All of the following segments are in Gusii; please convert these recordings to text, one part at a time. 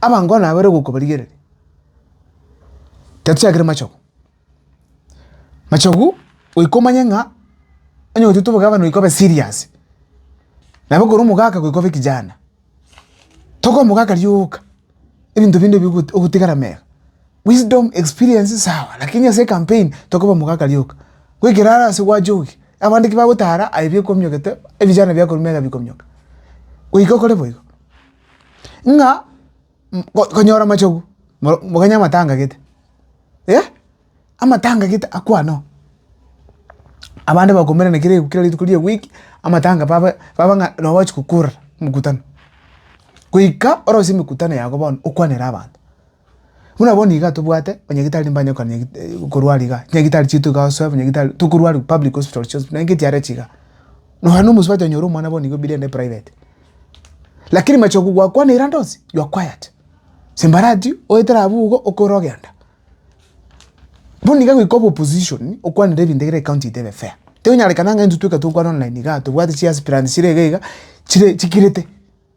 Abango nabo bare gokobarigereria, gatiakire machogu, machogu goika omanye ng'a onye gotuete obogabani goika obe serious, nabo ekero omogaka goika obe kijana, toka omogaka rioka ebinto binde bi ogo ogotigara mega, wisdom, experience sawa lakini ase ecampaign toka obe omogaka rioka, goikera are ase gwachokia abande ki bagotara aye bi okominyoka te ebijara biakorwa mega bikominyoka, goika okore boigo. ng'a ko- konyora amachogu moro mokanye amatanga gete, eh amatanga gete akwane oo. Abande bakomerana kera kera rituko ria ewiki amatanga babe babe ng'a nabo bachi kokora mokutano, goika orosie mekutano yago bono okwanere abanto. Buna bono iga tobwate banyagitari mbanye gokora nyagitari korwara iga, chinyagitari chiaito iga osoe banyagitari tokorwaria public hospital chionsi pi, naende echiara echi iga. Nonya na omosubati onyore omwana bono iga obirie ande private. Lakini machoko gwakwanire ande onsi, you are quiet. Simbarati oetera abwo igo okore ogenda. Bono iga goika obe opposition okwanire ebinto ekero ecounty yaito ebe fair. Tonyarekana ng'a intwe tweka tokwana online igaa tobwate chiaspirant chire iga iga chire chikirete.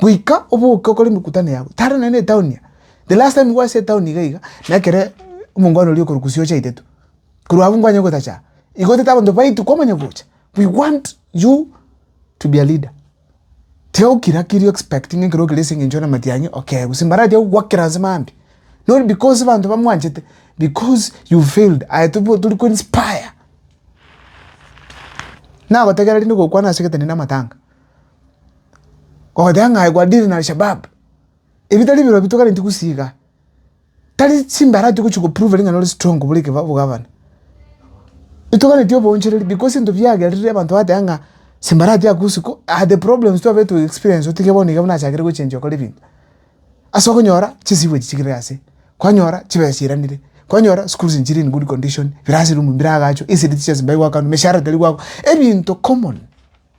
goika oboke okore emekutano yago tari nonye na etaoni eye, the last time nigo ase etaoni iga iga na ekere omongwana oria okorwa gusii ochaete tu, korwa abwo nkwanye gotacha, igo otete abanto baitu kwamanya gocha, we want you to be a leader, tiga gokira kiri o expectinge ekero okire ase eng'encho ore matiang'e okee, gose mbaratia gogoakera inse mambia, not because abanto bamwanchete, because you failed, aye tobo tori ko inspire, nagotebia rende gokwana ase egeteni na amatanga. Ogoteeba ng'a aye gwadili na Alshabaab, ebi tari ebirobi tokareti gusii igaa, tari chimbara ati ogochi gopruveri ng'a nore strong bore ekeba obogavana. Etoganeti oboonchereri because ento biagerire abanto bagateba ng'a simbara ati aa gusii ko aa the problems twabete to experience otige bono iga buna achakire gochenjia okore ebinto. Ase okonyora chisibu echi chigire ase, kwanyora chibesa chiiranire, kwanyora schools is in good condition, classroom mbiraagachwa, esiri tichia ase mbai gwakanwa, emeshahara tari gwakwa, ebinto common.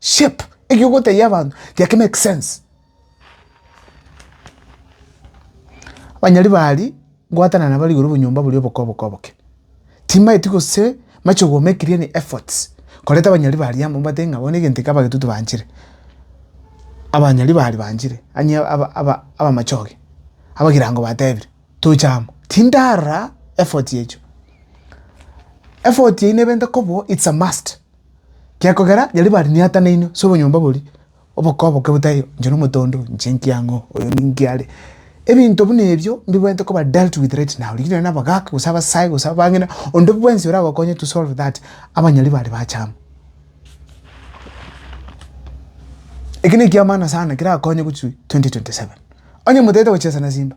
shape eki ogotebia abanto geki make sense. Abanyari ba aria ngwatana nabo igoro obonyomba boria oboke oboke oboke, timanyeti gose machie go make any efforts koreta abanyari ba aria amo mobate ng'a bono egento eke abagetoti banchire, abanyari ba aria banchire onye aba aba abamachoge abagirango batebire toche amo, tindara effort echio. Effort eywo nebenta koba it's a must. Gekogera riaria bariniatanaine ase obonyomba boria, oboka oboke botayo, inche nomote onde oyo, inche nki ang'e oo, oyo ninki are. Ebinto buna ebio mbibwenerete koba dealt with right now, rigirini nonye abagaka gose abasae gose abang'ina, onde bwensi oragokonye to solve that, abanyari bare bachama. Eki nekiamana sana kerakonye gochia 2027. Onye motaete gochesa na simba.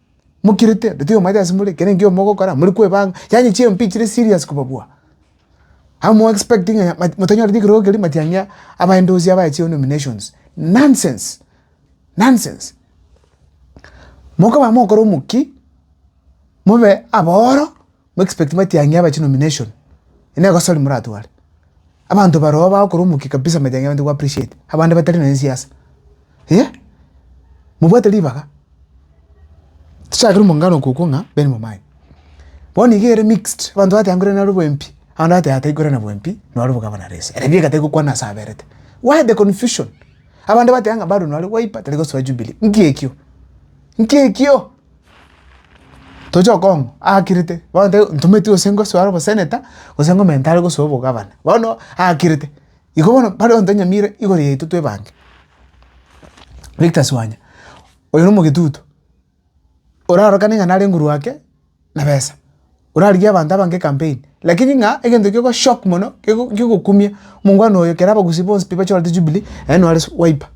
Mokirete ande tari omoete ase more, ekero ekiagera mogokora more kwebanga, yaani chimpi chire serious kobabua. Amo mo expect ng'a motanyora ekerogo keria matiang'a abaende ase abaye chi nominations, nonsense, nonsense. Mokoba mogokora omokia, mobe abaoro. Mu expect matiang'i ya abache nomination. Eye ne egosorori moratware. Abanto baroo bagokora omokia kabisa matiang'i abande go appreciate. Abande batari nonya siasa. Eeh. Mobwate ribaga. Tichakire omong'ina nokoigwa okwo ng'a Ben Momai. Bono iga ere mixed. Abanto bateba nkoirana nare obwempi. Abande bateba taikoirana bwempi noro obogavana rese. Ere bieka tari gokwana ase aberete. Why the confusion? Abande bateba ng'a bado nore Wiper tari gosoa Jubilee. Nki ekio? Nki ekio? Toche okong'u aakirete, bono tari ntometi gose ngosoe are oboseneta, gose ngomenta are gosoa obogavana, bono aakirete. Igo bono bare onto nyamira igoro yaito twe ebange. Victus Wanya, oyo na omogetutu, orarokane ng'a nare nguru ake na besa, orarigie abanto abange campaign, lakini ng'a egento ekio goshock mono kego kegokumia omongwana oyo ekero abagusii bonsi pi bachorete Jubilee aye nore su wiper.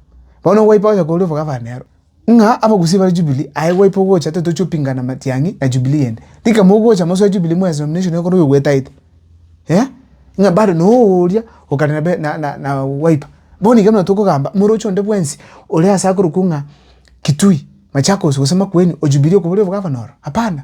Bono wiper ocha korwa oboga bane aro, ng'a abagusii bare Jubilee aye wiper ogocha totochi opingana matiang'i na Jubilee ende. Tika mogocha mosoe Jubilee mwa ase nomination ekero oyo ogwetaete eh, ng'a bado noyo oria okare na be na na na wiper. Bono iga buna tokogamba omorochi onde bwensi ore ase akorokwo ng'a Kitui, Machakos gose Makueni o Jubilee okobora oboga abana oro, hapana.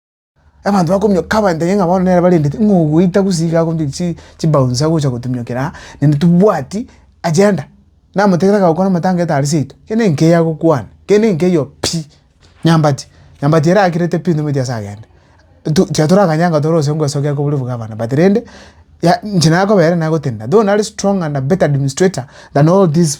Abanto bakomio kabaentenye ng'a bono nere barendete ng'a ogoita gose iga agombie chi chibouncer gocha gotumiokeraa aa naende tobwati agenda. Namotegerera agakora amatanga etari seito kende nkei agokwana kende nkei oo pi nyambati nyambati erakirete pi ntomanyeti ase agende tu tiga torakanye anga toro ase ngweso geko bori obogavana but rende ya inche nakobera nagotenena though nare strong and a better administrator than all these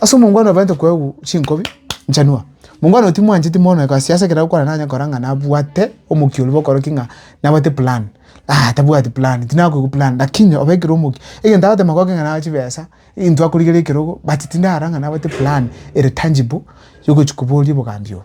Ase omongwana obaete koegwa chinkobi nchanwa, omongwana oyo timwancheti mono egasi yase ekero agokora nanye kora ng'a nabwate omokia oria bokora ki ng'a nabwate plan, ah tabwati plan tinakoigwa plan lakini obe ekero omokia egento agoteema goke ng'a nabwate chibesa, intwe akorigera ekerogo but tindara ng'a nabwate plan ere tangible yogochi koboria obogambi obo.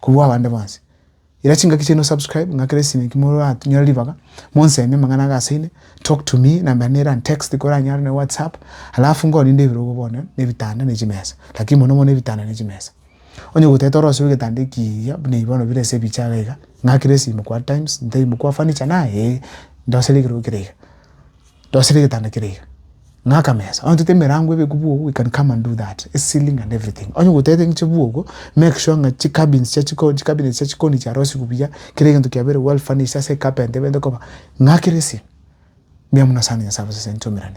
kobua abande bonsi. Ira chingaki chiaino subscribe ng'akere esime ki moranyore ribaga monsemi amang'ana age ase ime talk to me nambera nere and text koranyare na whatsapp alafu nkorinde ebirogo bono na ebitanda na chimesa lakini mono mono ebitanda na chimesa. Onye goteta orosibe egetanda ekiya buna ebi bono bire ase ebiche iga iga ng'akere esime kwa times ntebie kwa furniture na ee ndosere ekerogo kere iga. Ndosire egetanda kere iga, ng'a akamesa, onye tote emerango ebe bwogo, we can come and do that, ceiling and everything. Onye gotete ng'che bwogo, make sure ng'a chicabins chia chiko, chicabinets chia chikoni chiarosigwe buya, kera egento kiabeire well furnished, ase ecarpenter ebente koba ng'a kera esio. Mbuya mono asande Nyasae abasase intwe omerane.